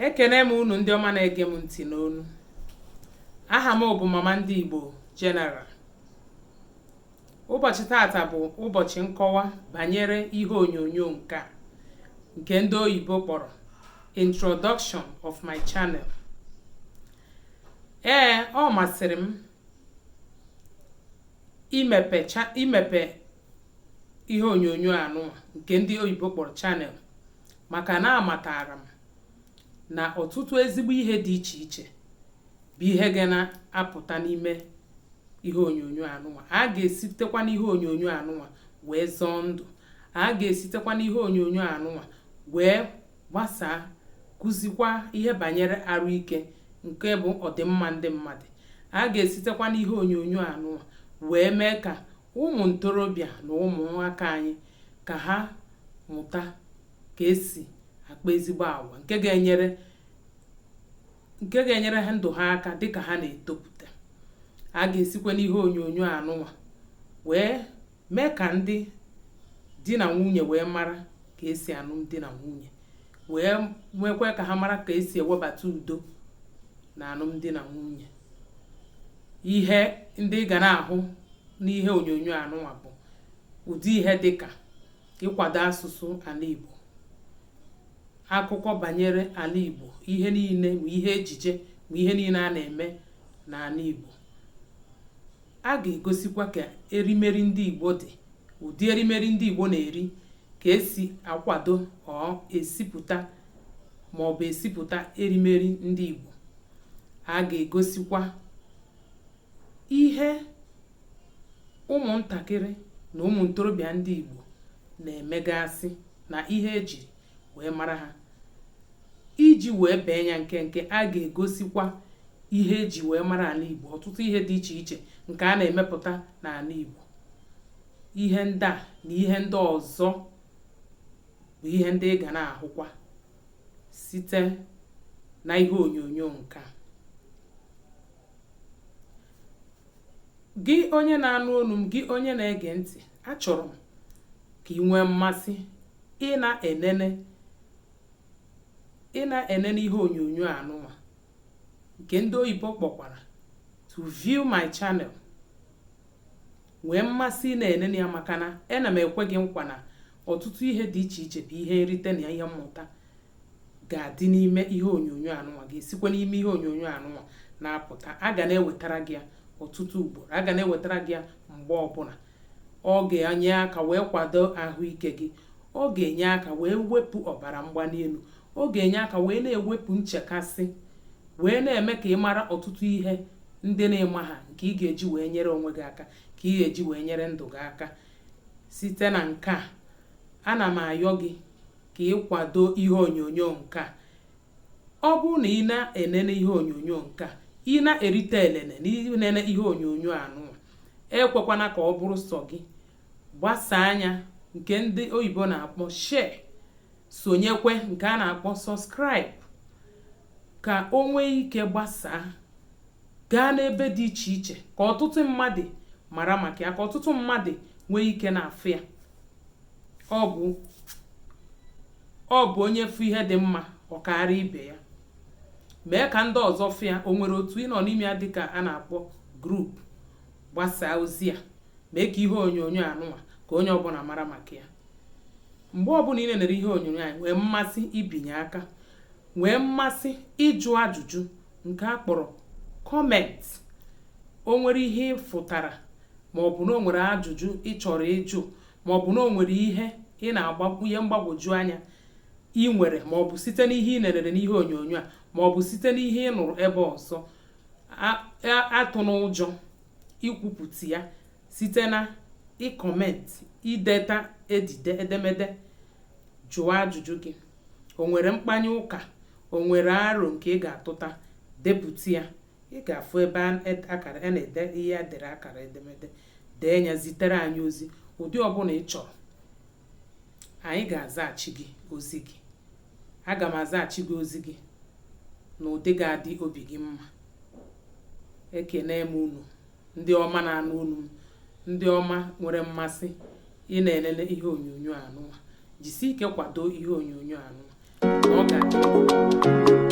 ekene m unu ndị ọma na-ege m ntị n'onu aha m bụ mama ndị Igbo General ụbọchị taata bụ ụbọchị nkọwa banyere ihe onyonyo nke a nke ndị oyibo kpọrọ introduction of my channel ee ọ masịrị m imepe imepe ihe onyonyo anụnwa nke ndị oyibo kpọrọ channel maka na amatara m na ọtụtụ ezigbo ihe dị iche iche bụ ihe ga na-apụta n'ime ihe onyonyo anụnwa a ga-esitekwa n'ihe onyonyo anụnwa wee zọọ ndụ a ga-esitekwa n'ihe onyonyo anụnwa wee gbasaa kuzikwa ihe banyere arụ ike nke bụ ọdịmma ndị mmadụ a ga-esitekwa n'ihe onyonyo anụwa wee mee ka ụmụ ntorobịa na ụmụ nwaka anyị ka ha mụta ka esi akpa ezigbo agwa nke ga-enyere nke ga-enyere ndụ ha aka dịka ha na-etopụta a ga-esikwa n'ihe onyonyo anụwa wee Mee ka ndị di na nwunye wee mara ka esi anụ di na nwunye wee mekwa ka ha mara ka esi ewebata udo na anụmdi na nwunye ihe ndị ị ga na-ahụ n'ihe onyonyo anụnwa bụ ụdị ihe dị ka ịkwado asụsụ ana Igbo akụkọ banyere ana Igbo ihe niine ma ihe ejije ma ihe niine a na-eme n'ana Igbo A ga-egosikwa ka erimeri ndị Igbo dị, ụdị erimeri ndị Igbo na-eri, ka esi akwado or esipụta ma ọ bụ esipụta erimeri ndị Igbo. A ga-egosikwa ihe ụmụntakịrị na ụmụ ntorobịa ndị Igbo na-emegasị na ihe ejiri wee mara ha iji wee bee ya nkenke a ga-egosikwa ihe eji wee mara ana Igbo ọtụtụ ihe dị iche iche nke a na-emepụta n'ana Igbo ihe ndị a na ihe ndị ọzọ bụ ihe ndị ị ga na-ahụkwa site na ihe onyonyo nke a gị onye na-anụ onu m gị onye na-ege ntị achọrọ m ka ị nwee mmasị ị na-enene ị na-enene ihe onyonyo anụnwa nke ndị oyibo kpọkwara to view my channel nwee mmasị ị na-enene ya maka na ena m ekwe gị nkwa na ọtụtụ ihe dị iche iche bụ ihe nrite na ihe mmụta ga-adị n'ime ihe onyonyo anụnwa ga-esikwa n'ime ihe onyonyo anụnwa na-apụta a ga na-ewetara gị ya ọtụtụ ugboro a ga na-ewetara gị ya mgbe ọbụla ọ ga-enye aka wee kwado ahụike gị ọ ga-enye aka wee wepụ ọbara mgbali elu ọ ga-enye aka wee na-ewepụ nchekasị wee na-eme ka ị mara ọtụtụ ihe ndị na ị maha nke ị ga-eji wee nyere onwe gị aka ka ị ga-eji wee nyere ndụ gị aka site na nke a ana m ayọ gị ka ị kwado ihe onyonyo nke a ọ bụrụ na ị na-enene ihe onyonyo nke a ị na-erite elele na inene ihe onyonyo anụnwa ekwekwana ka ọ bụrụ sọ gị gbasaa nya nke ndị oyibo na-akpọ share sonyekwe nke a na-akpọ subscribe ka o nwee ike gbasaa gaa n'ebe dị iche iche ka ọtụtụ mmadụ mara maka ya ka ọtụtụ mmadụ nwee ike na-afụ ya ọ bụ ọ bụ onye fụ ihe dị mma ọ kaara ibe ya mee ka ndị ọzọ fụ ya o nwere otu ị nọ n'ime ya dịka a na-akpọ group gbasaa ozi a mee ka ihe onyonyo anụnwa ka onye ọbụla mara maka ya mgbe ọbụla i nenere ihe onyonyo anyị nwee mmasị ibinye aka nwee mmasị ịjụ ajụjụ nke a kpọrọ comment o nwere ihe ị fụtara ma ọ bụ na o nwere ajụjụ ị chọrọ ịjụ ma ọ bụ na o nwere ihe ị na ihe mgbagwoju anya ị nwere ma ọ bụ site n'ihe ị nerere n'ihe onyonyo a ma ọ bụ site n'ihe ị nụrụ ebe ọzọ atụna ụjọ ikwupụta ya site na ịcomment ideta edide edemede jụọ ajụjụ gị o nwere mkpanye ụka o nwere aro nke ị ga-atụta depụta ya ị ga-afụ ebe akara a na-ede ihe a dere akara edemede dee nya zitere anyị ozi ụdị ọbụla ị chọrọ anyị ga-azaghachi gị ozi gị aga m azaghachi gị ozi gị na ụdị ga-adị obi gị mma ekenee m unu ndị ọma na-anụ olu m ndị ọma nwere mmasị ị na-elele ihe onyonyo anụwa jisi ike kwado ihe onyonyo anụwa ọ ga-asị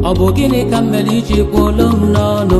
ọ bụ gịnị ka m mere iji kwuo olu m n'ọnụ